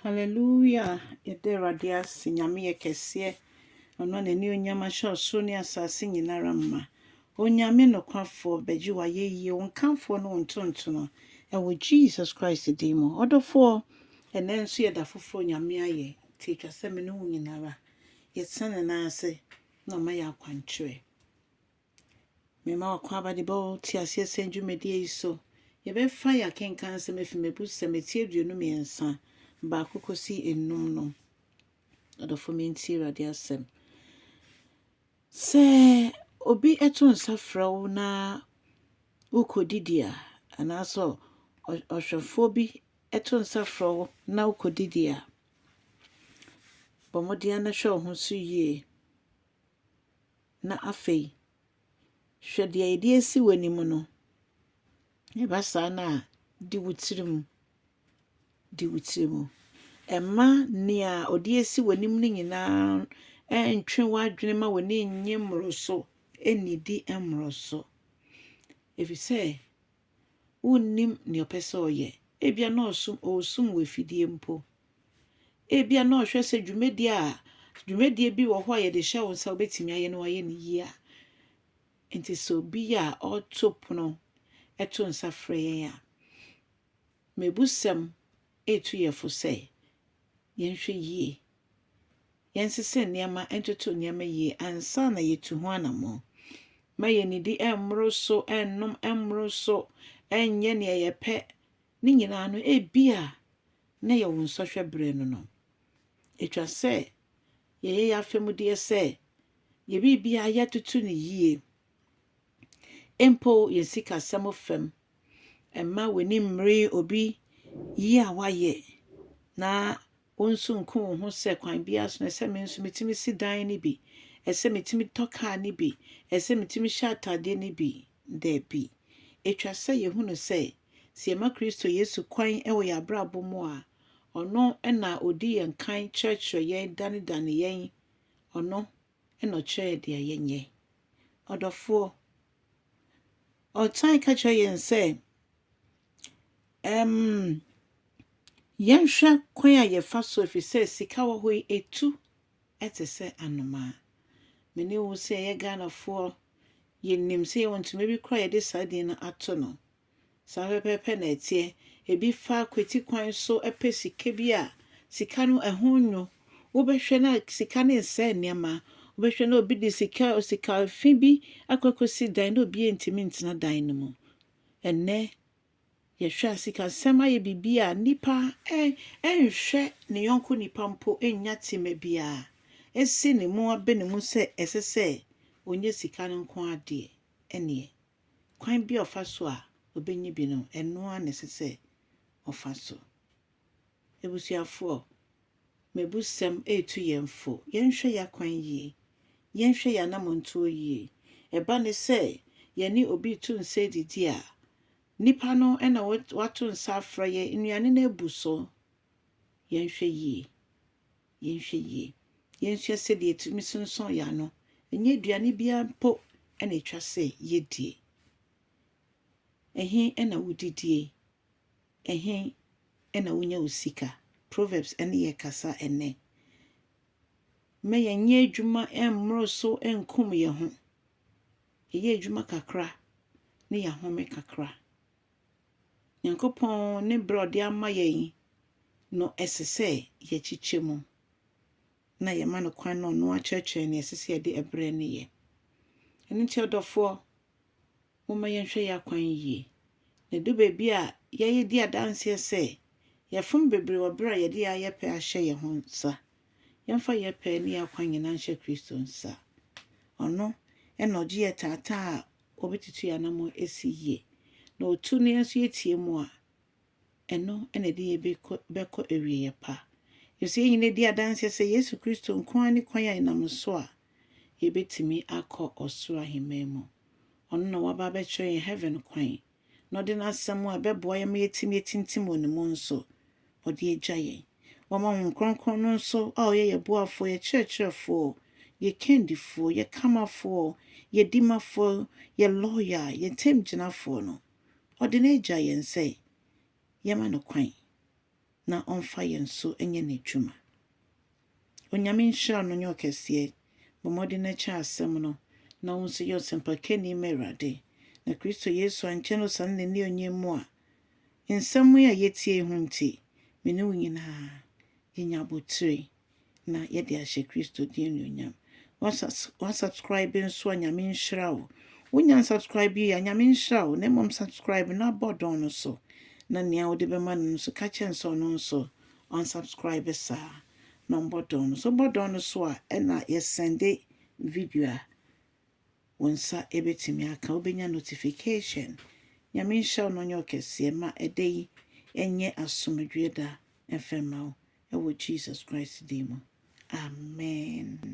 Hallelujah yɛda awurade ase nyame yɛ kɛseɛ ɔno a n'anionyam ahyɛ ɔsoro ne asase nyinara ma onyame nokwafoɔ bɛgye wayɛyie wo nkamfoɔ ne wo ntontono ɛwɔ Jesus Christ din mu ɔdɔfoɔ ɛnɛ nso yɛ da foforɔ nyame ayɛ nti ɛtwa sɛ me ne wo nyinara yɛtena ne nan ase na ɔma yɛ akwankyerɛ Mema w'akwaaba de bɛba wo teaseɛsɛm dwumadie yi so. Yɛbɛfa yɛn akenkan nsɛm afi m'abusɛm a ɛti aduonu mmiɛnsa, baako kɔsi nnum no. Adɔfo mentie Awurade asɛm. Sɛ obi to nsa frɛ wo na wokɔdidi a, anaasɛ ɔ- ɔ- ɔhwɛfoɔ bi to nsa frɛ wo na wokɔdidi a, bɔ mmɔden na hwɛ wo ho so yie. Na afei, hwɛ deɛ yɛde asi w'anim no. Ɛba saa no a, di wo tirim. Di wo tirim. Mma nea ɔde asi w'anim no nyinaa ntwe w'adwene ma w'ani nnye mmoro so, nnidi mmoro so. Ɛfiri sɛ, wonnim nea ɔpɛ sɛ ɔyɛ. Ebia na ɔsom, ɔresum wɔ afidie mpo. Ebia na ɔhwɛ sɛ dwumadie a dwumadie bi wɔ hɔ a yɛde hyɛ wo nsa wobɛtumi ayɛ no ayɛ no yie a. Nti sɛ obi a ɔreto pono ɛto nsa frɛ yɛn a, mebusɛm ɛretu yɛ fo sɛ yɛnhwɛ yie yɛnsesa nneɛma ntoto nneɛma yie ansa na yɛtu ho anammɔn. Mma yɛnnidi mmoro so, nnom mmoro so, nyɛ nea yɛpɛ. Ne nyinaa no, ebia na yɛ wo nsɔhwɛ berɛ no no. Ɛtwa sɛ yɛyɛ yɛn afamudeɛ sɛ yɛ biribiara yɛtoto no yie. Mpo yɛn sikasɛm fam. Mma w'ani mmere obi yie a wayɛ, na wo nso nku wo ho sɛ kwan biara so no, ɛsɛ me nso metumi si dan no bi, ɛsɛ metumi tɔ kaa no bi, ɛsɛ metumi hyɛ ataadeɛ no bi. Daabi. Ɛtwa sɛ yɛhunu sɛ, sɛ yɛma Kristo Yesu kwan wɔ yɛn abrabɔ mu a, ɔno na ɔdi yɛn kan kyerɛkyerɛ yɛn danedane yɛn, ɔno na ɔkyerɛɛ deɛ yɛnyɛ. Ɔdɔfoɔ, ɔtan ka kyerɛ yɛn sɛ, ɛm, yɛnhwɛ kwan a yɛfa so ɛfiri sɛ sika wɔ hɔ yi, ɛtu te sɛ anomaa. Me ne wo sɛ yɛyɛ Ghanafoɔ, yɛnim sɛ yɛwɔ ntoma bi koraa a yɛde saa din no ato no. Saa pɛpɛɛpɛ na ɛteɛ. Ebi fa kwati kwan so pɛ sika bi a, sika no ɛho nnwo. Wobɛhwɛ na sika no nsɛe nneɛma. Wobɛhwɛ na obi de sika sika fi bi akɔ akɔsi dan na obiara ntumi ntena dan no mu. Ɛnnɛ, yɛhwɛ a sikasɛm ayɛ biribi a nnipa nhwɛ ne yɔnko nipa mpo nnya tema biara nsi ne mu abene mu sɛ ɛsɛ sɛ ɔnya sika no nko ara deɛ ɛnneɛ. Kwan bi a ɔfa so a obenya bi no, ɛno ara na ɛsɛ sɛ ɔfa so. Abusuafoɔ, m'abusɛm retu yɛn fo, yɛnhwɛ yɛn akwan yie, yɛnhwɛ yɛn anammɔntuo yie. Ɛba no sɛ yɛne obi retu nsa redidi a, nipa no na wato nsa afrɛ yɛn, nnuane no abu so, yɛnhwɛ yie. Yɛnhwɛ yie. Yɛnsua sɛdeɛ yɛtumi sonsɔn yɛn ano. Ɛnyɛ aduane biara mpo na ɛtwa sɛ yɛdie. Ɛhe na wodidie? Ɛhe na wonya wo sika? Proverbs ne yɛn rekasa ɛnnɛ. Mma yɛnyɛ adwuma mmoro so nkum yɛn ho. Yɛyɛ adwuma kakra na yɛahome kakra. Nyankopɔn ne berɛ a ɔde ama yɛn no ɛsɛ sɛ yɛkyekyɛ mu na yɛma no kwan na ɔno akyerɛkyerɛ nea ɛsɛ sɛ yɛde ɛberɛ no yɛ. Ɛno nti ɔdɔfoɔ, momma yɛnhwɛ yɛn akwan yie. Na ɛdu baabi a yɛyɛ di adanseɛ sɛ yɛfom bebree wɔ berɛ a yɛde yɛn ayɛpɛ ahyɛ yɛn ho nsa. Yɛmfa yɛn pɛ ne yɛn akwan nyinaa nhyɛ Kristo nsa. Ɔno na ɔgye yɛn taataa a wɔbɛtutu yɛn anammɔn asi yie, na ɔtu no yɛn nso yɛtie mu a, ɛno na ɛde yɛn bɛkɔ bɛkɔ awieeɛ pa. Ɛfiri sɛ yɛn nyinaa di adanseɛ sɛ Yesu Kristo nko ara ne kwan a yɛnam so a yɛbɛtumi akɔ ɔsoro ahemman mu. Ɔno na waba abɛkyerɛ yɛn heaven kwan. na ɔde n'asɛm a ɛbɛboa yɛn ma yɛatumi atintim wɔ ne mu nso, ɔde agya yɛn. Wama Honhom Kronkron no nso a ɔyɛ yɛn boafoɔ, yɛn kyerɛkyerɛfoɔ, yɛn kandifoɔ, yɛn kamafoɔ, yɛn dimafoɔ, yɛn lɔya, yɛn ntamgyinafoɔ no, ɔde no agya yɛn sɛ yɛmma no kwan. na ɔmfa yɛn nso nyɛ n'adwuma. Onyame nhyira no nyɛ ɔkɛseɛ. Bɔ mmɔden na kyɛ asɛm no na wo nso yɛ ɔsɛmpakani ma Awurade na Kristo Yesu ankyɛ no ɔsane n'anionyam mu a. Nsɛm yi a yɛtie yi ho nti, me ne wo nyinaa yɛnya abotire. na yɛde ahyɛ Kristo din anuonyam. Wasubscribe nso a Nyame nhyira wo. Wonya unsubscribe yi a Nyame nhyira wo na mmom subscribe na bɔ dɔn no so na nea wode bɛma no nso ka kyɛn sɛ ɔno nso unsubscribe saa na ɔmbɔ dɔn no so. Bɔ dɔn no so a ɛna yɛsɛnde video a Wo nsa bɛtumi aka, wobɛnya notification. Nyame nhyira wo na ɔnyɛ wo kɛseɛ. Ma ɛda yi nyɛ asomdwoeɛ da mfa mma wo wɔ Jesus Christ din mu. Amen.